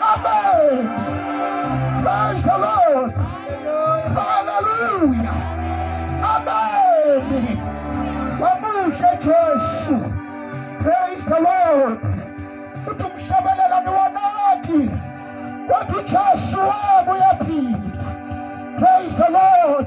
Amen. Praise the Lord. Hallelujah. Amen. Wamuhle Jesu. Praise the Lord. Uthi umhlabelelani wanaki. Wathi Jesu wabuya phila. Praise the Lord.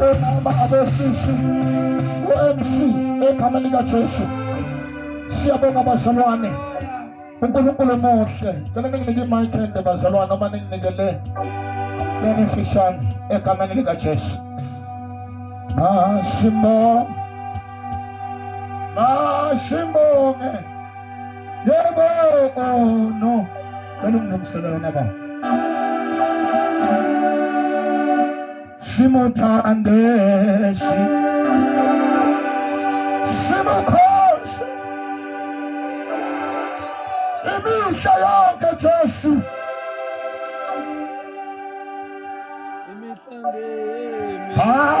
omama abosisi u-mc egama likajesu siyabonga bazalwane unkulunkulu muhle cela ninginike imayikende bazalwane uma ninginike le lenifishane egameni likajesu masimbonge masimbonge Yebo, oh no. Cela unginomsela yona ba. Simuthande si. Simukhoshe. Imihla yonke Jesu. Imihla ngeke. Ah.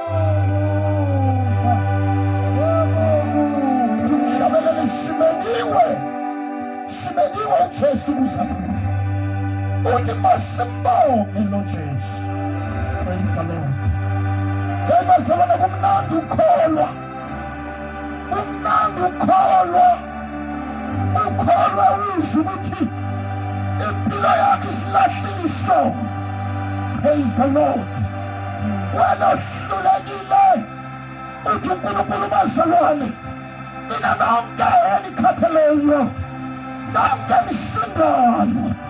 uthi masimbonge lo Jesu praise the Lord ngeke sabona kumnandi ukholwa kumnandi ukholwa ukholwa uyizwa ukuthi impilo yakhe isilahlile isono praise the lord wena ohlulekile uthi unkulunkulu bazalwane mina nonke enikhatheleyo nonke nisindayo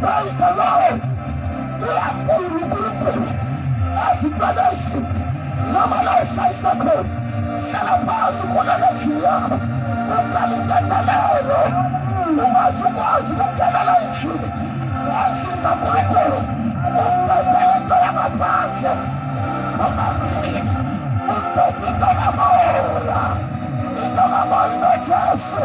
Praise the Lord. Uyakhulu uNkulunkulu asibhekisi noma la ushayisa khona hlala phansi khona endlini yakho uqala intethelelo ungazikwazi ukudelela endlini endlini kaNkulunkulu umbethele into yangaphandle omabili umbethe into yamora into kamoya uJesu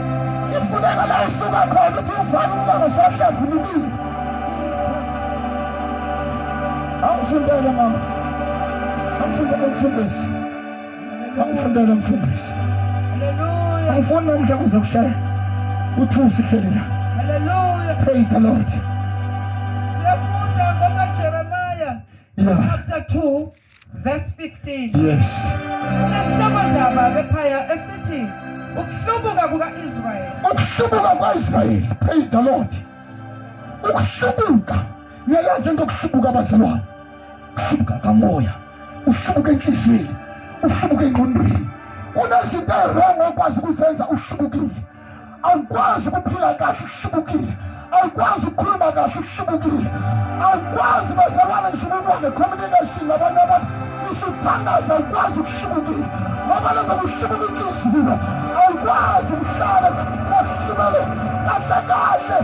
ifuneka la isuka khona ukuthi ufake umama sahlambulukile angifundele mama angifundele mfundisi angifundele mfundisi angifuni namhla kuze kushaya uthusi hleli la praise the lord yeah. chapter 2 Verse 15. Yes. Isihloko ndaba bephaya esithi ukuhlubuka kuka-Israyeli. Ukuhlubuka kwa-Israyeli. Praise the Lord. Ukuhlubuka. Niyayazi into okuhlubuka abazalwane. Ukuhlubuka kamoya. Uhlubuka enhliziyweni. Uhlubuka engqondweni. Kunezinto erongo okwazi ukuzenza uhlubukile. awukwazi ukuphila kahle uhlubukile awukwazi ukukhuluma kahle uhlubukile awukwazi bazalwane nhlubukwane communication nabanye abantu usuthandaza awukwazi ukuhlubukile ngoba lento kuhlubuka inhliziyo awukwazi ukuhlala kahlubele kahle kahle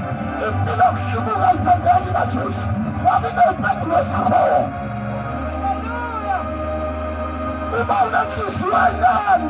impilo yokuhlubuka ayithandeki kajesu ngoba into impendulo zakhoyo uma unenhliziyo encane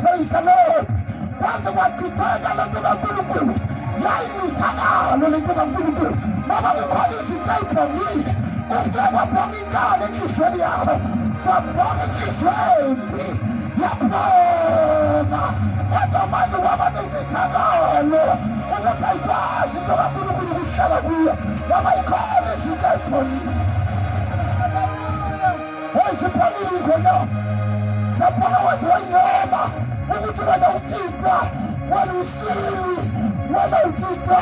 Praise the Lord. Base bathitheka lento kaNkulunkulu. Yayithakalo lento kaNkulunkulu. Baba kukhona izinto ayibhongile. Ufike wabhonga inkalo enhlizweni yakho. Wabhonga inhliziyo embi. Yaphoma. Kodwa manje waba nethithakalo. Ukuthi ayikwazi into kaNkulunkulu ukuhlala kuyo. Baba ikhona izinto ayibhongile. Wayesiphalile khona saphana waze wangceba ukuthi wena uthixwa wena usili wena uthixwa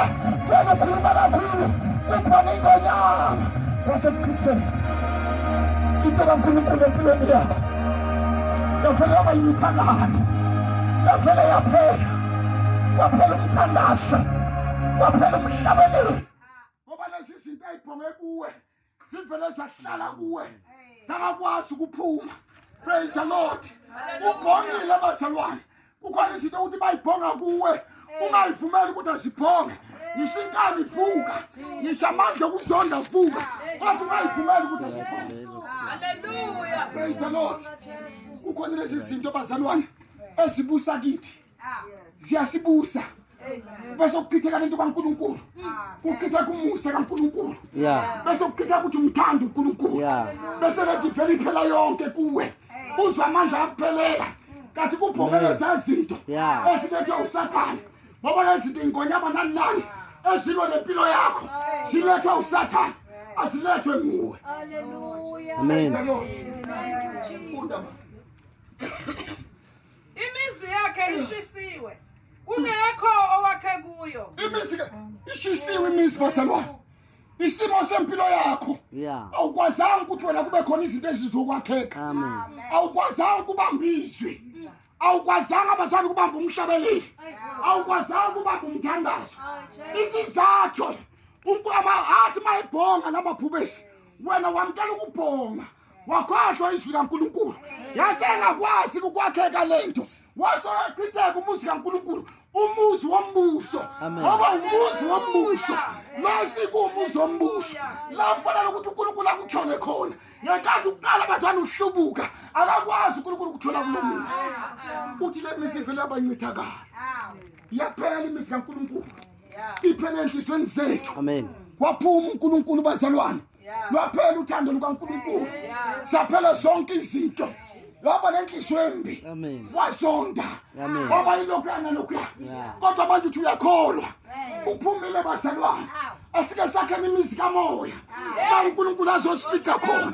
wena ukhuluma kakhulu kuphana ingonyama wasekuchithe into kankulunkulu empilweni yakho yavele yaba yimithangane yavele yaphela waphela umthandazo waphela umhlabeleli ngoba lezi zinto ayibhonge kuwe zivele zahlala kuwe zangakwazi ukuphuma praise the lord ubhongile abazalwane kukhona izinto ukuthi bayibhonga kuwe ungayivumeli ukuthi azibhonge ngisho inkani vuka ngisho amandla okuzonda vuka kodwa ungayivumeli ukuthi azibhonge praise the lord kukhona lezi zinto bazalwane ezibusa kithi ziyasibusa bese kuchitheka lento kaNkuluNkulu kuchitha kumusa kaNkuluNkulu bese kuchitha ukuthi umthanda uNkuluNkulu bese lethi vele iphela yonke kuwe uzwa amandla akuphelela kanti kuphumele zazinto esilethwe usathane ngoba lezinto ingonyama nani nani ezilwa nempilo yakho zilethwe usathane azilethwe nguwe amen funda Imizi yakhe ishisiwe. Kungekho owakhe kuyo. Imizi ke ishisiwe imizi bazalwane. Isimo sempilo yakho. Yeah. Awukwazanga ukuthi wena kube khona izinto ezizokwakheka. Amen. Awukwazanga ukubamba izwi. awukwazanga abazali ukubamba umhlabeleli awukwazanga ukubamba umthandazo isizathu athi mayibhonga lamaphubesi wena wamkela ukubhonga wakhohlwa izwi kaNkulunkulu yase engakwazi ukwakheka lento wasochitheka umuzi kaNkulunkulu umuzi wombuso ngoba umuzi wombuso nasi kuumuzi wombuso la kufanele ukuthi uNkulunkulu akuthole khona ngenkathi uqala bazana uhlubuka akakwazi uNkulunkulu ukuthola kulo muzi uthi le mizi ivele yabancithakala yaphela imizi kaNkulunkulu iphele enhlizweni zethu amen waphuma uNkulunkulu bazalwane lwaphela uthando lukaNkulunkulu saphela zonke izinto waba nenhliziyo embi wasonda waba yilokhuya nalokhuya kodwa manje uthi uyakholwa uphumile bazalwane asike sakhele imizi kamoya la unkulunkulu azosifika khona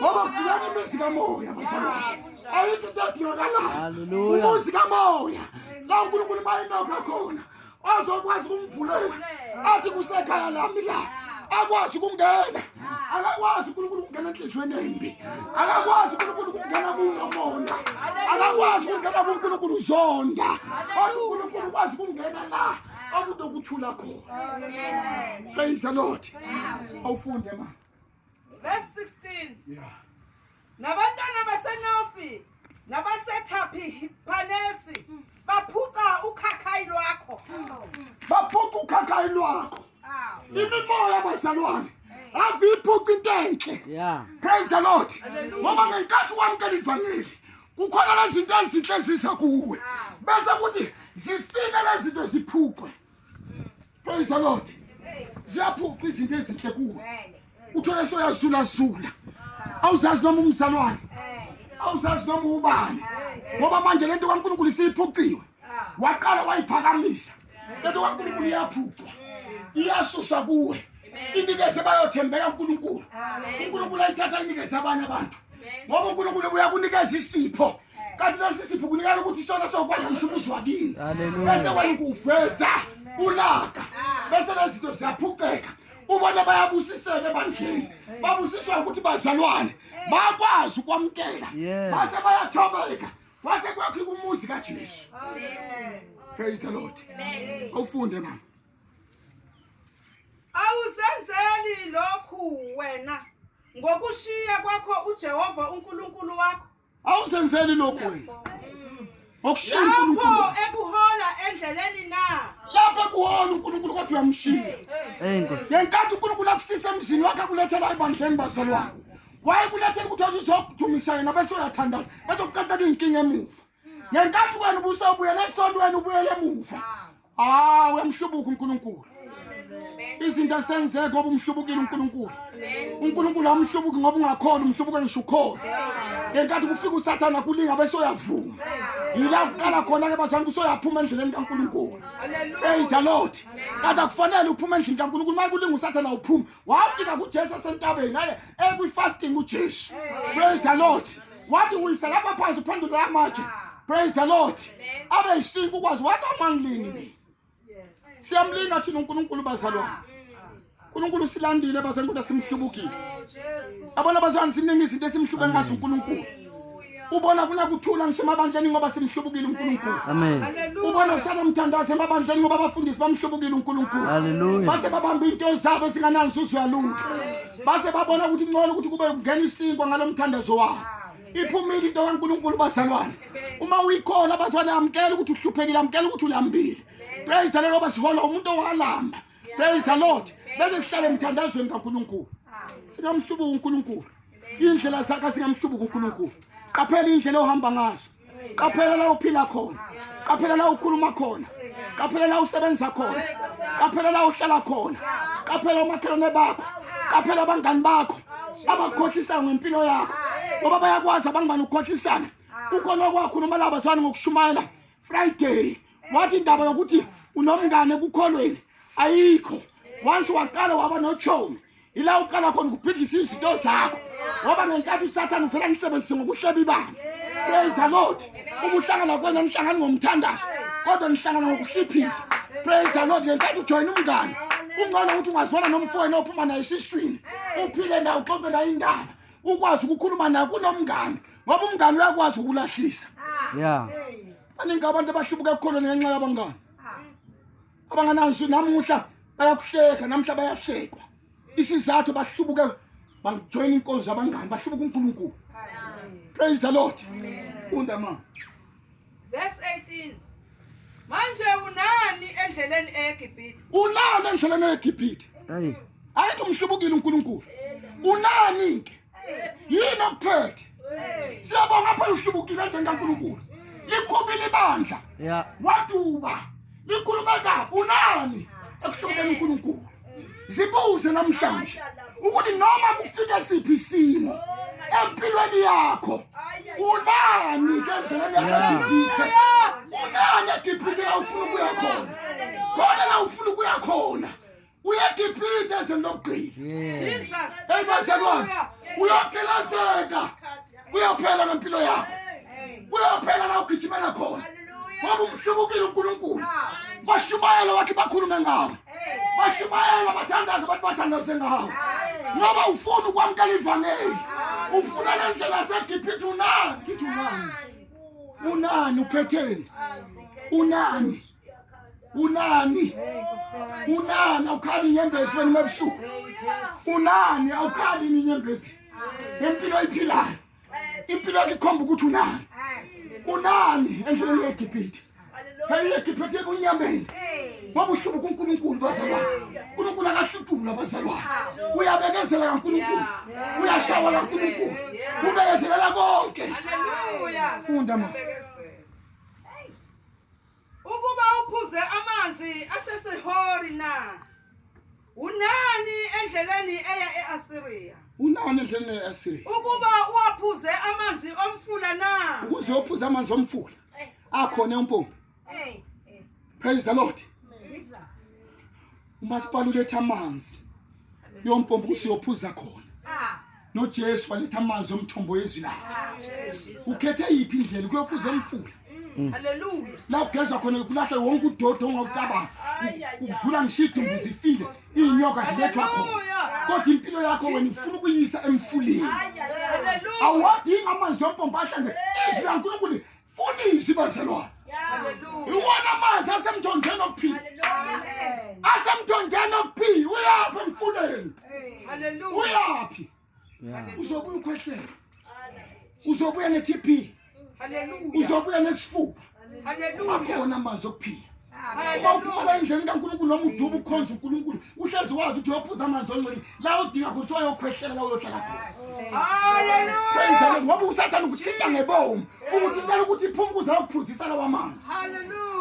ngoba kudingeka imizi kamoya bazalwane ayikho into edingakalayo umuzi kamoya la unkulunkulu mayinokho khona azokwazi ukumvulela athi kusekhaya lami la akwazi ukungena akakwazi uNkulunkulu ukungena enhliziyweni embi akakwazi uNkulunkulu ukungena kunomona akakwazi ukungena kuNkulunkulu uzonda kodwa uNkulunkulu ukwazi ukungena la okunokuthula khona praise the lord awufunde ma Verse 16. Yeah. Nabantwana baseNofi nabaseThaphi Panesi hmm. baphuca ukhakhayi lwakho. Baphuca ukhakhayi lwakho. Imimoya bazalwane ave iphuca into enhle. Yeah. Praise the Lord. Ngoba ngenkathi wamkela ivangeli kukhona lezinto ezinhle ziza kuwe. Bese kuthi zifike lezinto ziphukwe. Praise the Lord. Ziyaphuqa izinto ezinhle kuwe. Uthole soyazula zula. Awuzazi noma umzalwane. Awuzazi noma ubani. Ngoba manje lento kaNkulunkulu isiphuciwe. Waqala wayiphakamisa. Lento kaNkulunkulu iyaphucwa. Iyasusa kuwe. Inikeze bayothembeka uNkulunkulu. Amen. UNkulunkulu ayithatha inikeze abanye abantu. Ngoba uNkulunkulu uyakunikeza isipho. kanti lesi sipho kunikela ukuthi isona sokwazi ukuthi umuzi wakini bese wena ukuveza ulaka bese lezinto ziyaphuceka ubona bayabusiseka ebandleni babusiswa ukuthi bazalwane bakwazi ukwamkela base bayathobeka wase kwakho kumuzi kaJesu praise the lord awufunde mama awuzenzeli lokhu wena ngokushiya kwakho uJehova uNkulunkulu wakho awuzenzeli lokhu wena okushiya uNkulunkulu ekuhola endleleni na lapha kuhola uNkulunkulu kodwa uyamshiya ngenkathi uNkulunkulu akusisa emzini wakhe akulethela ebandleni bazalwane wayekulethela ukuthi azizokudumisa yena bese uyathandaza bese kuqatheka iy'nkinga emuva ngenkathi wena ubusawubuyela esontweni ubuyela emuva Ah, uyamhlubuka uNkulunkulu. Izinto asenzeke ngoba umhlubukile uNkulunkulu. uNkulunkulu amhlubuki ngoba ungakhona umhlubuka ngisho ukhona. Ngenkathi kufika uSathana kulinga bese uyavuma. Yila kuqala khona ke bazange usoyaphuma endleleni kaNkulunkulu. Praise the Lord. Kade akufanele uphume endlini kaNkulunkulu. Maye kulinga uSathana uphuma. wafika kuJesu asentabeni naye ekwi fasting uJesu praise the lord wathi uyisa lapha phansi uphendula amatshe praise the lord abe isinku kwazi wathi amangilini siyamlinga thina uNkulunkulu bazalwane uNkulunkulu usilandile basenkulu simhlubukile abona bazanisiningi izinto esimhlube ngazo uNkulunkulu ubona kuna kuthula ngisho emabandleni ngoba simhlubukile uNkulunkulu amen ubona usala umthandazo emabandleni ngoba abafundisi bamhlubukile uNkulunkulu haleluya base babamba into zabo singananzi uzwalutho base babona ukuthi ngcono ukuthi kube kungena isinkwa ngalomthandazo wabo iphumile into kaNkulunkulu bazalwane uma uyikhola bazwane amkela ukuthi uhluphekile amkela ukuthi ulambile praise the lord basihola umuntu owalamba praise the lord bese sihlale emthandazweni kaNkulunkulu singamhlubuka uNkulunkulu indlela zakhe zingamhlubuki uNkulunkulu qaphela indlela ohamba ngazo qaphela la uphila khona qaphela la ukhuluma khona qaphela la usebenza khona qaphela la uhlala khona qaphela omakhelwane bakho qaphela abangani bakho abakhohlisa ngempilo yakho ngoba bayakwazi abangani ukukhohlisana ukhona kwakho noma laba zwana ngokushumayela friday wathi indaba yokuthi unomngane ekukholweni ayikho once waqala waba nochomi ila uqala khona ukuphindisa izinto zakho ngoba ngenkathi usathane uvela ngisebenzise ngokuhleba ibanga praise the lord uma uhlangana kwena nihlangani ngomthandazo kodwa nihlangana ngokuhliphisa praise the lord ngenkathi ujoyina umngane ungcono ukuthi ungazwana nomfowenu ophuma naye esiswini uphile naye uxoxe naye indaba ukwazi ukukhuluma naye kunomngane ngoba umngane uyakwazi ukulahlisa ya baningi abantu abahlubuka ekukholweni ngenxa yabangane abanganansu namuhla bayakuhleka namuhla bayahlekwa isizathu bahlubuke bangijoyina inkonzo abangani bahlubuka uNkulunkulu praise the lord funda ma verse 18 manje unani endleleni eGibhithe unani endleleni eGibhithe ayithi umhlubukile uNkulunkulu unani ke yini okuphethe siyabonga phela uhlubukile endeni kankulunkulu likhubile ibandla waduba likhuluma ka unani ekuhlubukeni unkulunkulu zibuze namhlanje ukuthi noma kufike siphi isimo empilweni yakho unani ke ndlela yasegibhithe unani egibhithe awufuna ukuya khona khona la ufuna ukuya khona uyagibhida ezweni lokugcina Jesus. eyi bazalwane uyogelazeka uyophela ngempilo yakho uyophela la ugijimela khona ngoba umhlubukile unkulunkulu bashumayela wathi bakhulume ngawo bashumayela bathandaze bathi bathandaze ngawo ngoba ufuna ukwamukela ivangeli ufuna le ndlela segibhida unani ngithi unani unani uphetheni unani unani unani awukhali inyembezi wena mabusuku unani awukhali inyembezi ngempilo oyiphilayo impilo yakho ikhomba ukuthi unani unani endleleni yegibhithe yayiyegibhithe kunyameni ngoba uhluba kunkulunkulu bazalwane unkulunkulu akahlutula bazalwane uyabekezela kankulunkulu uyashawa kankulunkulu ubekezelela konke funda ma Ukuba uphuze amanzi aseSihori na? Unani endleleni eya e-Asiriya? Unani endleleni eya e-Asiriya? Ukuba uwaphuze amanzi omfula na? Ukuze uphuze amanzi omfula. Akhona umpompi. Praise the Lord. umasipala uletha amanzi yompompo kusiyophuza khona ah. nojesu waletha amanzi omthombo yezwi lakhe ah, ukhethe yiphi indlela kuyophuza emfula mm. haleluya la ugezwa khona kulahla wonke udodo ongawucabanga ukudlula ngisho idumbu zifile iy'nyoka zilethwa khona kodwa impilo yakho wena ufuna ukuyisa emfuleni awadingi amanzi yompompo ahlanze izwi lankulunkulu funa izwi bazalwane iwona amanzi asemthonjeni okuphila asemthonjeni okuphila uyaphi emfuleni uyaphi uzobuya ukhwehlela uzobuya ne-tb uzobuya nesifuba akhona amanzi okuphila uma uphumela endleleni kankulunkulu noma uduba ukhonza unkulunkulu uhlezi wazi ukuthi uyophuza amanzi ongcwele la udinga khona kuthiwa yokhwehlela la uyohlala khona ngoba usathane ukuthinta ngebomu ukuthintela ukuthi iphuma ukuze ayokuphuzisa lawa manzi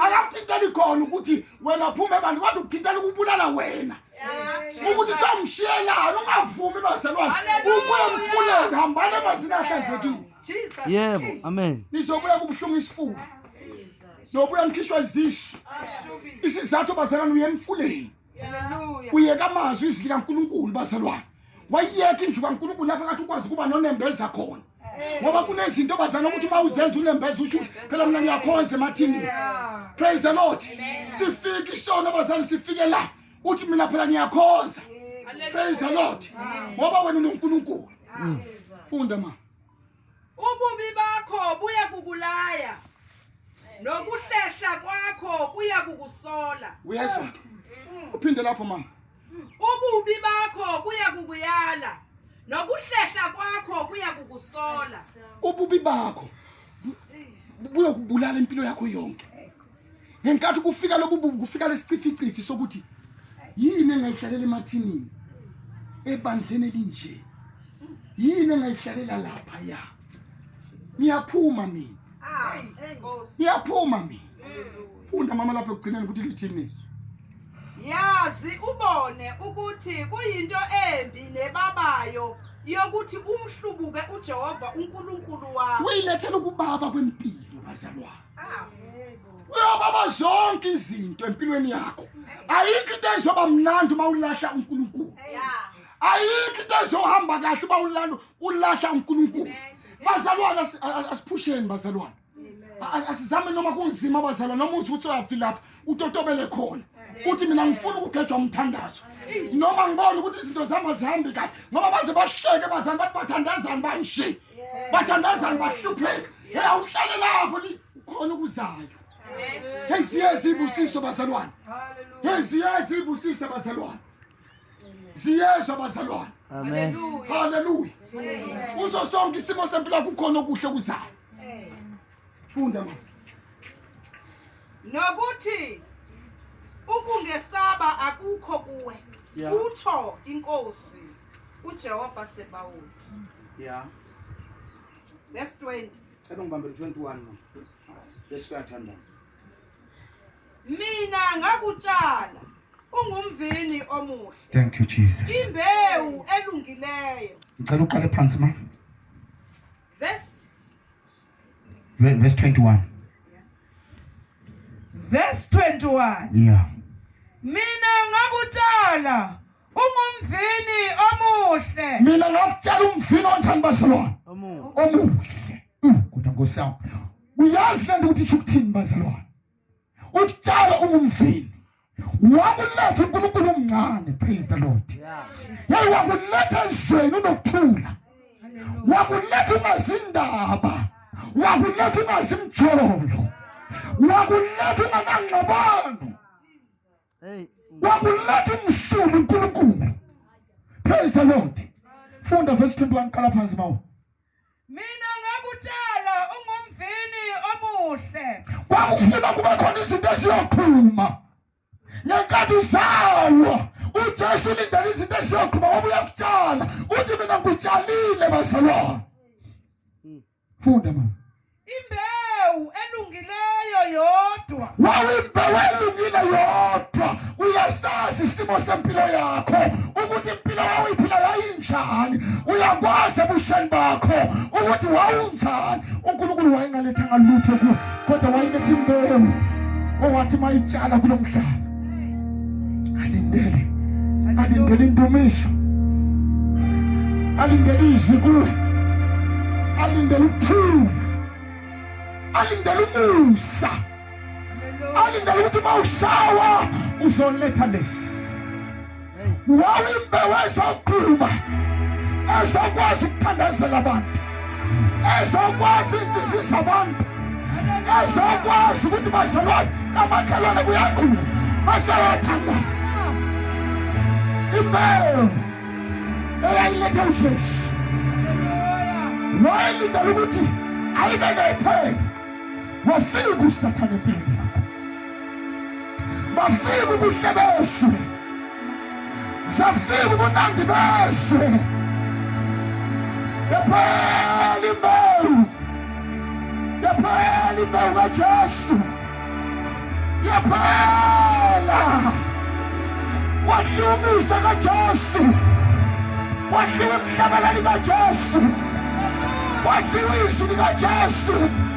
akakuthinteli khona ukuthi wena phuma ebandla kodwa ukuthintela ukubulala wena ukuthi samshiyelani ungavumi bazalwane ukuya emfuleni hambani emazini ahlanzekile yebo amen nizobuya kubuhlungu isifuba nobuya ngikhishwa izisu isizathu bazalwane uye emfuleni uyeka amazwi izwi likankulunkulu bazalwane wayiyeka indlu kankulunkulu lapho kathi ukwazi ukuba nonembeza khona ngoba kunezinto bazana ukuthi uma uzenza unembeza usho ukuthi phela mina ngiyakhonza emathini praise the lord sifike isono bazali sifike la uthi mina phela ngiyakhonza praise the lord ngoba wena unonkulunkulu funda ma Ububi bakho buya kukulaya. Nokuhlehla kwakho kuya kukusola. Uyezwa ke. Uphinde lapho mama. Ububi bakho kuya kukuyala. Nokuhlehla kwakho kuya kukusola. Ububi bakho buya kubulala impilo yakho yonke. ngenkathi kufika lobu bubi kufika lesicificifi sokuthi yini engayihlalela emathinini ebandleni elinje yini engayihlalela lapha ya ngiyaphuma mina ngiyaphuma mina funda mama lapha ekugcineni ukuthi lithini izwi yazi ubone ukuthi kuyinto embi nebabayo yokuthi umhlubuke uJehova uNkulunkulu wakho uyilethela ukubaba kwempilo bazalwane uyobaba zonke izinto empilweni yakho ayikho into ezoba mnandi uma ulahla unkulunkulu ayikho into ezohamba kahle uba ulala ulahla unkulunkulu bazalwane asiphusheni bazalwane asizame noma kunzima bazalwane noma uthi ukuthi uyavilapha utotobele khona uthi mina ngifuna ukugejwa umthandazo noma ngibona ukuthi izinto zihamba zihambi kahle ngoba baze basihleke bazalwane bathi bathandazani banjee bathandazani bahlupheka ya uhlale lapho khona okuzayo hey siyazi ibusiso bazalwane hey siyazi ibusiso bazalwane siyezwa bazalwane amen haleluya uzo sonke isimo sempilo kukhona okuhle okuzayo Funda mama. Nokuthi ukungesaba akukho kuwe. Yeah. Utsho inkosi uJehova Sebawuthi. Yeah. Verse 20. Cela ngibambe 21 mama. Lesikathandaza. Mina ngakutshala ungumvini omuhle. Thank you Jesus. Imbewu elungileyo. Ngicela uqale phansi mama. Verse 21. Verse 21. Yeah. Mina ngakutshala ungumvini omuhle. Mina ngakutshala umvini onjani bazalwane? Omuhle. Kodwa Nkosi yami. Uyazi lento ukuthi isho ukuthini bazalwane? ukutshala ungumvini wakuletha uNkulunkulu omncane praise the lord hey wakuletha ezweni unokuthula wakuletha ungazindaba wakuletha ungazimjolo wakuletha unganangxabano wakuletha umsulu uNkulunkulu praise the lord funda verse 21 qala phansi mawu Mina ngakutshela ungumvini omuhle. Kwakufuna kube khona izinto eziyoqhuma. Ngenkathi uzalwa uJesu ulindele izinto eziyoqhuma ngoba uyakutshala. Uthi mina ngikutshalile bazalwane. Funda mama. Imbewu elungileyo yodwa. Wawimbewu elungile yodwa. Uyasazi isimo sempilo yakho ukuthi impilo wawuyiphila yayinjani. Uyakwazi ebusheni bakho ukuthi wawunjani. UNkulunkulu wayengalethanga lutho kuwe kodwa wayiletha imbewu owathi mayitshala kulomhlaba. alindele alindele indumiso alindele izwi kuwe alindele ukuthula alindele umusa alindele ukuthi uma ushawa uzoletha lesi wawimbewu ezokhuluma ezokwazi ukuthandazela abantu ezokwazi intsizisa abantu ezokwazi ukuthi bazalwane kamakhelwane kuyakhulu basayathanda imbewu eyayilethe ujesu wayelindela ukuthi ayibe nethemba wafika usathane empilweni bafika ubuhle besu zafika ubunandi besu yaphela imbewu yaphela imbewu kajesu yaphela wadliwa umusa kajesu wadliwa emhlabalali kajesu wadliwa izwi likajesu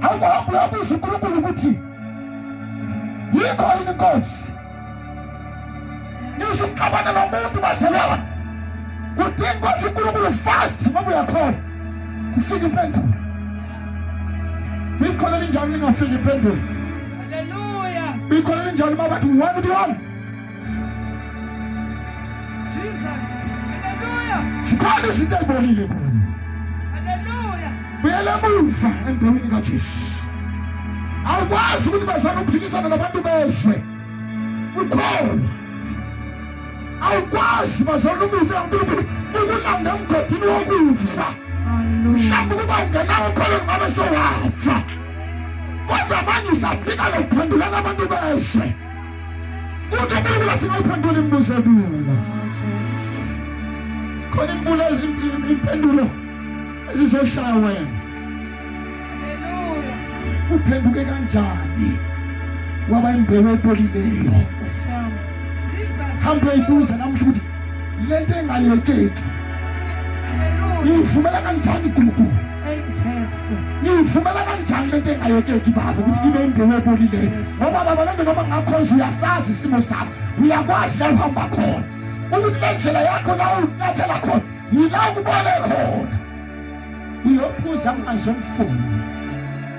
hamba hamba uyabuza uNkulunkulu ukuthi yikho yini inkosi ngisho ukuxabana nomuntu bazalwane kudinga ukuthi uNkulunkulu fast ngoba uyakhona kufika impendulo ikhola elinjalo lingafika impendulo ikhola elinjalo uma bathi one to one zikhona izinto ezibolile kuyo buyela emuva embewini kajesu awukwazi ukuthi bazana ukuphikisana nabantu bezwe ukhona awukwazi bazana umusa kankulunkulu ukulanda emgodini wokufa mhlawumbe ukuba ungenawo khona ngabe sewafa kodwa manje usaphika lokuphendulana abantu bezwe Ukabalekela singayiphendula imibuzo elula. Khona imbulo impendulo ezizoshaya wena. Uphenduke kanjani? Waba imbewu epolileyo. Hamba uyibuza namhla ukuthi lento engayekeki. Ivumela kanjani uNkulunkulu? ngiyivumela kanjani lento engayekeki baba ukuthi ngibe imbewu ebolileyo ngoba baba lento noma ngakhonje uyasazi isimo sami uyakwazi la uhamba khona ukuthi le ndlela yakho la unyathela khona yila ukubole khona uyophuza manje mfundo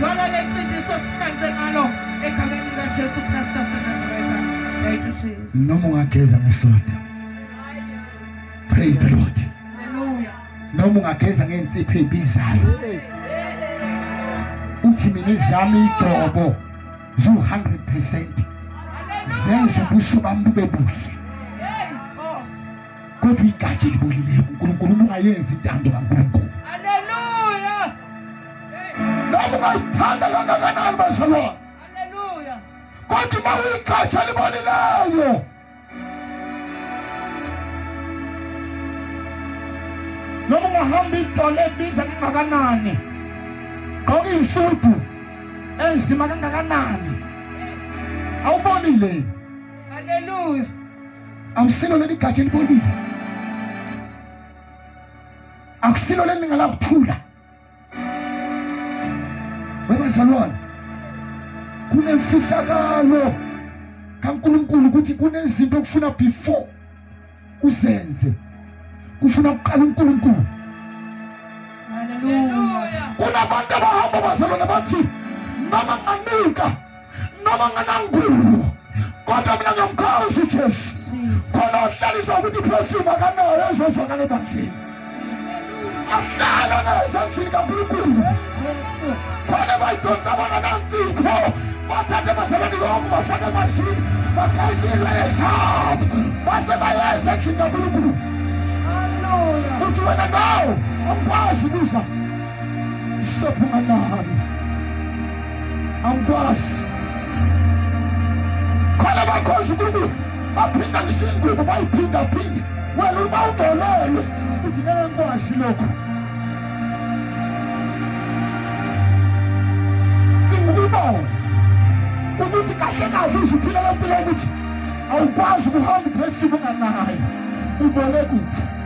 Thola lensindiso siqanse ngalo egameni likaJesu Kristu waseNazaretha. Thank you Jesus. Noma ungageza ngesoda. Praise the Lord. Hallelujah. Noma ungageza ngensipho ebizayo. Uthi mina izami igcobo zu 100% zenza ubuso bami bube buhle. Kodwa igatsha elibolile uNkulunkulu ungayenzi intando kaNkulunkulu. noma ungayithanda kangakanani bazalwane kodwa uma uyigatsha libonileyo noma ungahamba idolo ebiza kangakanani gqoka iy'sudu enzima kangakanani awubonile haleluya awusilo leli gatsha elibonile akusilo leli ngalakuthula Webazalwane, kunemfihlakalo kaNkulunkulu ukuthi kunezinto okufuna before uzenze kufuna kuqala uNkulunkulu. Haleluya. Kunabantu abahamba bazalwane bathi noma nganika noma nganangulu kodwa mina ngiyamkhosi uJesu khona uhlalisa ukuthi iperfume akanayo ezozwakala ebandleni ahlala ngezandlini kaNkulunkulu khona bayidonsa bona nanzipho bathathe basebenzi konke bafake emazini bakhaise ilwele zabo base bayeza endlini kaNkulunkulu uthi wena nawo awukwazi ukuza sophuma nami angikwazi khona bakhonza unkulunkulu baphinda ngisho ingubo bayiphindaphinde wena uma udelelwe uthi ngeke ngikwazi lokho ngikubona ukuthi kahle kahle uzuphila lempilo yokuthi awukwazi ukuhamba uphefile unganayo ubone kuphi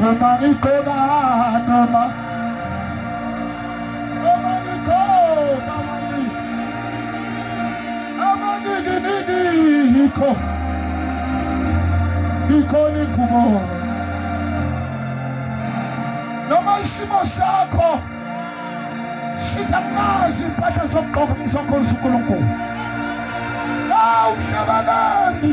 noma ngigqoka noma noma ngigqoka mani amanikiniki yikho ikhona ingubo noma isimo sakho sitamazi impahla zokugqoka ngizokhonza unkulunkulu awu mhlabalandi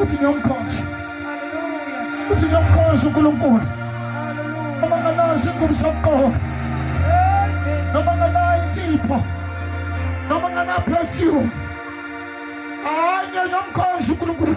uthi ngiyomkhonza uthi ngiyomkhonza uNkulunkulu noma nganazi ingubo sokuqoka noma nganayo insipho noma ngana perfume hayi ngiyomkhonza uNkulunkulu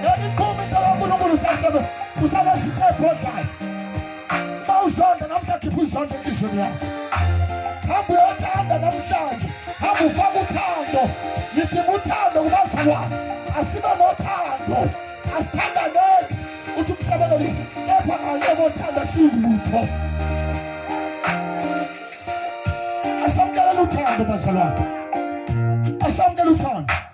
Ngeliqhuma into kaNkulunkulu sasebe usabasha ebhodlayo. Mawuzonda namhla khipha uzonda enhlizweni yakho. Hamba uyothanda namhlanje. Hamba ufaka uthando. Ngidinga uthando kubazalwane. Asibe nothando. Asithandaneni. Uthi umsebenzeli kepha ngale kothanda siwulutho. Asamkela uthando bazalwane. Asamkela uthando.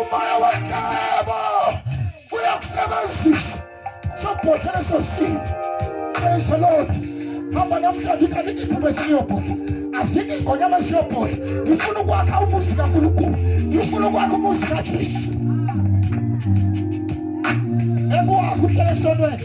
umoya wendaba uyakusebenzisa sobhodla leso simo praise the lord hamba namhlanje uthi angikiphi kwesiyobhodla azike ingonyama siyobhodla ngifuna ukwakha umuzi kankulunkulu ngifuna ukwakha umuzi kajesu ekuwakho uhlele esonweni